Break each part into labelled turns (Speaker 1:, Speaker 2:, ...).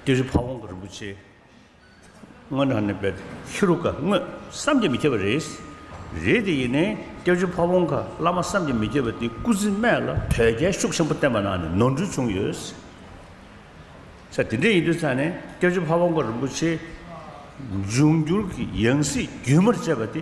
Speaker 1: ཏི་རི་ཕ་བོང་ག་རིན་པོ་ཆེ་སྔོན་ནང་ནས་པའི་ཧེ་རུ་ཀ་དངོས་བསམ་གྱིས་མི་ཁྱབ་པ་རེད། རེད་དེ་ཡིན་ནའི་སྐྱབས་རྗེ་ཕ་བོང་ག་བླ་མ་བསམ་གྱིས་མི་ཁྱབ་པ་དེ་སྐུ་ཚེ་སྨད་ལ་དོལ་རྒྱལ་ཤུགས་ཆེན་པོ་བསྟེན་པ་ནང་ནས་ནོར་འཁྲུལ་བྱུང་ཡོད། ཚེ་དེ་འདྲས་ཡིན་དུས་ཚང་ནས་སྐྱབས་རྗེ་ཕ་བོང་ག་རིན་པོ་ཆེའི་འབྱུང་འགྱུར་གྱི་ཡང་སྲིད་རྒྱུན་མར་བཅད་པ་དེ་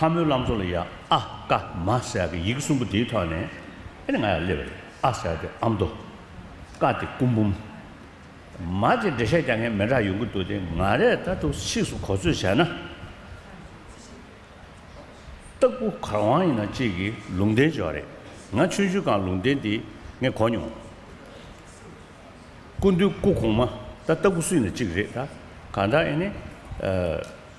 Speaker 1: ལྷ་མོའི་བླ་མཚོ་ལ་ཡ་ཨ་ཀ་མ་ཟེར་གི་ཡིག་གསུམ་པོ་དེའི་ཐོག་ནས་ཨེ་ནི་ང་ཡང་སླེབས་རེད་ཨ་ཟེར་ཏེ་ཨ་མདོ། ཀ་དེ་སྐུ་འབུམ། མ་དེ་འགྲེལ་བཤད་རྒྱག་མཁན་མི་འདྲ་ཡོང་གི་འདུག་སྟེ་ང་རས་ད་ཐུག་ཕྱིས་སུ་གོ་ཚོད་བྱས་ན། སྟག་བུ་གར་དབང་ཡིན་ན་ཅིག་གིས་ལུང་བསྟན་བྱས་བ་རེད་ང་ཆོས་བརྒྱུད་གང་ལུང་བསྟན་དེ་ངས་གོ་མྱོང། སྐུ་མདུན་སྐུ་གོང་མ་ད་སྟག་བུ་སུ་ཡིན་ན་ཅིག་རེད་ད་གང་ལྟར་ཨེ་ནི།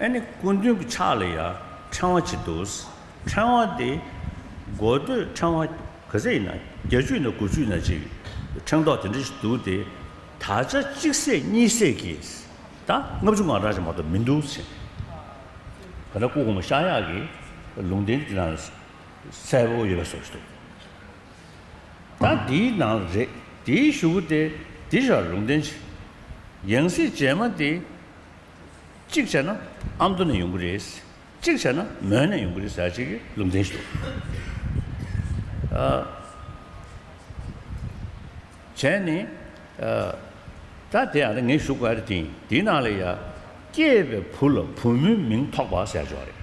Speaker 1: ཨེ་ནི་སྐུ་མདུན་གྱི་ཕྱག་ལ་ཡང་ཕྲེང་བ་གཅིག་འདུག། ཕྲེང་བ་དེ་སྒོ་སྟོད་ཕྲེང་བ་ག་ཚད་ཡིན་ན་བརྒྱ་བཅུ་ཡིན་ན་དགུ་བཅུ་ཡིན་ན་གཅིག་ཕྲེང་རྡོག་དེ་འདྲ་ཞིག་འདུག་སྟེ། ད་ཆ་གཅིག་སྲས་གཉིས་སྲས་ཀྱིས་ད་ལྔ་བཅུ་ང་རག་ཅིག་མ་གཏོགས་མི་འདུག་ཟེར། ད་ལྟ་སྐུ་གོང་མ་ཤཱཀ་ཡག་གི་ལུང་བསྟན་གྱི་ནང་ལ་སྲས་པོ་ཡོད་པ་སོགས་ཞིག་འདུག། ད་འདིའི་ནང་ལ་རེད་དེའི་གཞུག་གུ་དེ་འདི་ར་ལུང་བསྟན་ཆེ། ཡང་སྲིད་རྗེས་མ་དེ། གཅིག་བྱས་ན་ཨ་མདོ་ནས་ཡོང་གི་རེད། གཅིག་བྱས་ན་མོན་ནས་ཡོང་གི་རེད་ཟེར་བྱས་ཀྱི་ལུང་བསྟན་ཞུ། བྱས་ནས། ད་དེ་ཡང་རེད་ངས་གཞུག་ག་རེ་དེ་ཡིན་དེའི་ནང་ལ་ཡ། སྐྱེས་པའི་བུ་ལ་བུ་མོའི་མིང་ཐོགས་པ་ཟེར་བྱས་བ་རེད།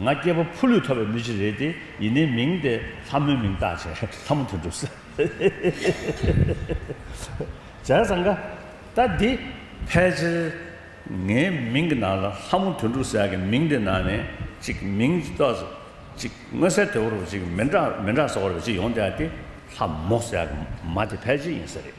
Speaker 1: ང་སྐྱེས་པ་ཕུ་ལུས་ཐོབ་པའི་མི་ཞིག་རེད་དེ་ཡིན་ནའི་མིང་དེ་ལྷ་མོའི་མིང་བཏགས་བྱས་ལྷ་མོ་དེ་འགྲུབ་ས་རེད། བྱས་ཙང་ད་འདི་ཕལ་ཆེར་ངའི་མིང་གི་ནང་ལ་ལྷ་མོ་དོན་གྲུབ་ཟེར་གི་མིང་དེ་ནང་ནས་ཅིག་མིང་གཏོགས་ཟེར་ཅིག་དངོས་གསལ་དོད་པོ་རུ་ཅིག་མི་འདྲ་མི་འདྲ་བཟོ་བ་རུ་ཅིག་ཡོང་སྟེ་ད་འདི་ལྷ་མོ་ཟེར་གི་མ་དེ་ཕལ་ཆེར་ཡིན་ས་རེད།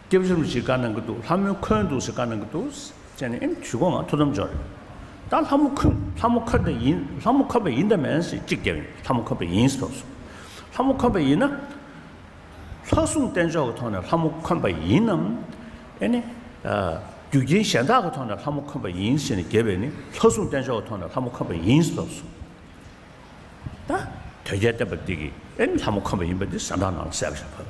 Speaker 1: སྐྱབས་གཞུང་ཞིག་བཀའ་གནང་གི་འདུག་ལྷ་མོའི་འཁོན་འདུག་ཞེས་བཀའ་གནང་གི་འདུག་ཅེས་ནས་ཨེ་ཞུ་གོང་ང་ཐུགས་དམ་འཇོག་རེད་ད་ལྷ་མོ་འཁོན་ལྷ་མོ་འཁོན་ད་ཡིན་ལྷ་མོ་འཁོན་པ་ཡིན་ད་མེན་ཞེས་གཅིག་རྒྱབ་ཡིན་ལྷ་མོ་འཁོན་པ་ཡིན་ཞེས་ཐོགས་སོང་ལྷ་མོ་འཁོན་པ་ཡིན་ན། ལྷ་སྲུང་བསྟེན་ཕྱོགས་ཀྱི་ཐོག་ནས་ལྷ་མོ་འཁོན་པ་ཡིན་ནམ། ཨེ་ནས། རྒྱུ་རྐྱེན་གཞན་དག་གི་ཐོག་ནས་ལྷ་མོ་འཁོན་པ་ཡིན་ཞེས་ནས་རྒྱབ་པས་ནི་ལྷ་སྲུང་བསྟེན་ཕྱོགས་ཀྱི་ཐོག་ནས་ལྷ་མོ་འཁོན་པ་ཡིན་ཞེས་ཐོགས་སོང། ད་དོལ་རྒྱལ་བསྟན་པ་འདི་གིས་ཨེ་ནས་ལྷ་མོ་འཁོན་པ་ཡིན་པ་འདི་ཟ་འདྲ་ནང་ལ་གསལ་པོ་ཞིག་ཕབ།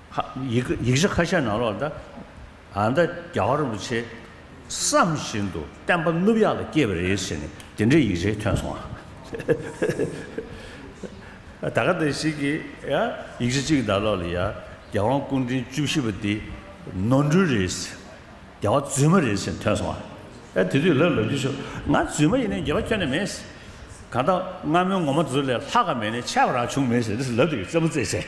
Speaker 1: ཡིག་ཆ་ཁ་ཤས་ནང་ལོག་ལྟ། ཨ་མདའ་རྒྱ་གར་རིན་པོ་ཆེས་བསམ་བཞིན་དུ་བསྟན་པ་བསྣུབས་ཡག་ལ་སྐྱེས་པ་རེད་ཟེར་ནས་དེ་འདྲའི་ཡིག་ཆའི་ཐོན་སོང་ཨ། ད་ག་འདི་ཞིག་གིས་ཡ། ཡིག་ཆ་གཅིག་གི་ནང་ལོག་ལ་ཡ། རྒྱལ་དབང་སྐུ་འཕྲེང་བཅུ་བཞི་པ་འདི་ནོར་འཁྲུལ་རེད་ཟེར། རྒྱལ་བ་རྫུན་མ་རེད་ཟེར་ཐོན་སོང་ཨ། ཨེ་དེ་དུས་ལབ་ལབ་ཀྱི་བྱུང། ང་རྫུན་མ་ཡིན་ནའི་རྒྱལ་བ་ཁྱོད་ནས་མེད། གང་ལྟར་སྔ་མོའི་ངོ་མ་དེ་ཚོ་ལས་ལྷག་ག་མེད་ནའི་ཆད་པ་རང་བྱུང་མེད་ཟེར་དེ་ལབ་དེ་གི་རྩེད་མོ་རྩེད་བྱས།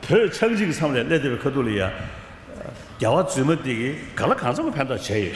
Speaker 1: བོད་ཆགས་འཇིག་མཚམས་ལས་སླེ་དེ་བའི་ཁ་ཐུག་ལ་ཡ། རྒྱལ་བ་རྫུན་མ་དེ་གི་ག་ལ་གང་འཚམ་ཕན་ཐོག་བྱས་ཡོད།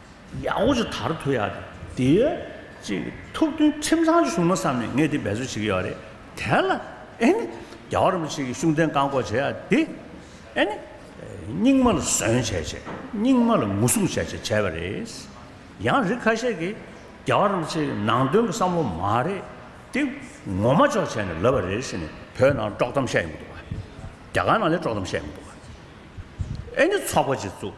Speaker 1: ཡང་ཨོ་ཅོ་དར་ཐུ་ཡག་དེ་ཡོད། ཅེས་ཐུགས་མཐུན་ཁྲིམས་གཙང་ཞུ་ན་བསམ་ནས་ངས་དེ་འབད་རྩོལ་བྱེད་ཀྱི་ཡོད་རེད་དེ། ལ་ཨེ་ནི། རྒྱ་གར་རིན་པོ་ཆེ་གི་ཤུགས་ལྡན་བཀག་འགོག་བྱེད་ཡག་དེ། ཨེ་ནི། རྙིང་མ་ལ་ཟོན་བྱས་བྱས། རྙིང་མ་ལ་ངུ་སྲུང་བྱས་བྱས་བྱས་པ་རེད། ཡང་རིགས་ཁ་ཤས་ཀྱིས། རྒྱ་གར་རིན་པོ་ཆེ་གི་ནང་དོན་གི་བསམ་བློ་མ་རེད་དེ། ངོ་མ་ཅོག་བྱས་ནས་ལབ་པ་རེད་ཟེར་ནས་བོད་ནང་དཀྲོག་གཏམ་བཤད་ཡོང་གི་འདུག། རྒྱ་གར་ནང་ལས་དཀྲོག་གཏམ་བཤད་ཡོང་གི་འདུག། ཨེ་ནི་ཚོགས་པ་ཅིག་བཙུགས།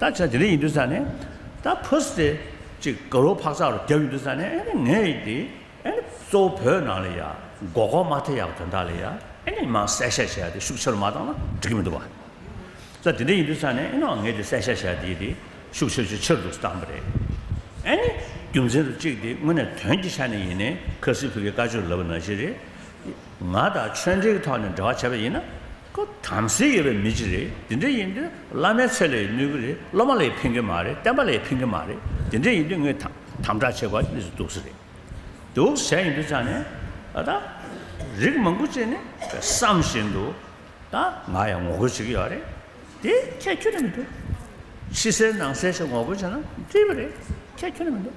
Speaker 1: ད་ཆ་དེ་ལས་ཡིན་དུས་ས་ནས་ད་ཕོས་ཏེ་ཅིག་དགའ་རོགས་འཕག་འཚག་རོགས་རྒྱབ་ཡིན་དུས་ས་ནས་ཨེ་ནས་ངས་ཡིན་དེ་ཨེ་ནས་གཙོ་བོ་བོད་ནང་ལ་ཡ་མགོ་སྐོར་མ་ཐེབས་ཡག་དོན་དག་ལ་ཡ་ཨེ་ནས་མང་གསལ་བཤད་བྱས་དེ་ཤུགས་ཆེ་རུ་མ་བཏང་ན་འགྲིག་གི་མི་འདུག་བ་ད་དེ་འདྲ་ཡིན་དུས་ས་ནས་ཨེ་ནའོ་ངས་དེ་གསལ་བཤད་བྱས་དེ་ཡིན་དེ་ཤུགས་ཆེ་ཆེ་ཆེ་རུ་འདུག་ས་བཏང་བ་རེད་ཨེ་ནས་རྒྱུ་མཚན་རུ་གཅིག་དེ་དངོས་གནས་དོན་གྱི་ཆ་ནས་ཡིན་ནས་ཁ་སིའི་བུ་གའི་བཀའ་ཆོས་ལབ་པ་ནང་བཞིན་རེད་ཡིན་ང་དང་ཆོས་འབྲེལ་གྱི་ཐོག་ནས་འབྲེལ་བ་བྱས་པ་ཡིན་ན་ཁོ་དམ་སྲི་ཡོད་པའི་མི་ཅིག་རེད་དེ་འདྲ་ཡིན་དུས་བླ་མའི་ཚད་ལས་གནོད་གི་རེད་སློབ་མ་ལས་ཕན་གི་མ་རེད་བསྟན་པ་ལས་ཕན་གི་མ་རེད་དེ་འདྲ་ཡིན་དུས་ངས་དམ་དྲག་བྱེད་དགོས་པ་ཞིག་ལས་སུ་གཏུགས་སུ་རེད་གཏུགས་བྱས་ཡིན་དུས་ཅང་ནས་ད་རིགས་མང་པོ་བྱས་ནས་བསམ་བཞིན་དུ་ད་ང་ཡང་ངོ་རྒོལ་བྱེད་ཀྱི་ཡོད་རེད་དེ་ཁྱད་ཁྱོད་ལ་མི་འདུག་ཕྱི་གསལ་ནང་གསལ་ཞིག་ངོ་རྒོལ་བྱས་ན་འཐུས་པ་རེད་ཁྱད་ཁྱོད་ལ་མི་འདུག།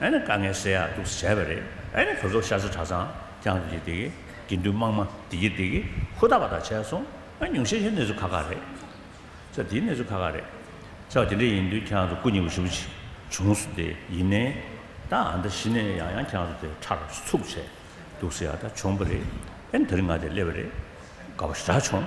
Speaker 1: ཨ་ནི་དཀའ་ངལ་སེལ་ཡག་ཐུགས་སུ་བྱས་པ་རེད། ཨ་ནི་བོད་སོག་ཤར་ས་གྲྭ་ཚང་རྐྱང་དུ་ཡི་དེགི་དགེ་འདུན་དམངས་མ་དེ་གི་དེ་གི་ཧུར་ཐག་པ་དག་བྱས་སོང་ཨ་ཉུང་ཤས་ཤས་གནས་ཚུལ་ཁ་ཁ་རེད། ཚ་དེའི་གནས་ཚུལ་ཁ་ཁ་རེད། ཚ་བ་དེ་འདྲ་ཡིན་དུས་ཁྱེད་རང་ཚོ་སྐུ་ཉེ་བོ་ཞུ་ཅིག་བྱུང་སུ་དེ་ཡིན་ནའི། ད་ཨ་མདའ་གཞི་ནས་ཡང་ཡང་ཁྱེད་རང་ཚོ་དེ་ཁྲ་རུ་ཚུགས་བྱས་འདུག་སེ་ཡ་ད་བྱུང་པ་རེད། ཨ་ནི་ད་རིང་ང་དེ་སླེབས་པ་རེད། དགའ་བོ་ཞེ་དྲག་བྱུང།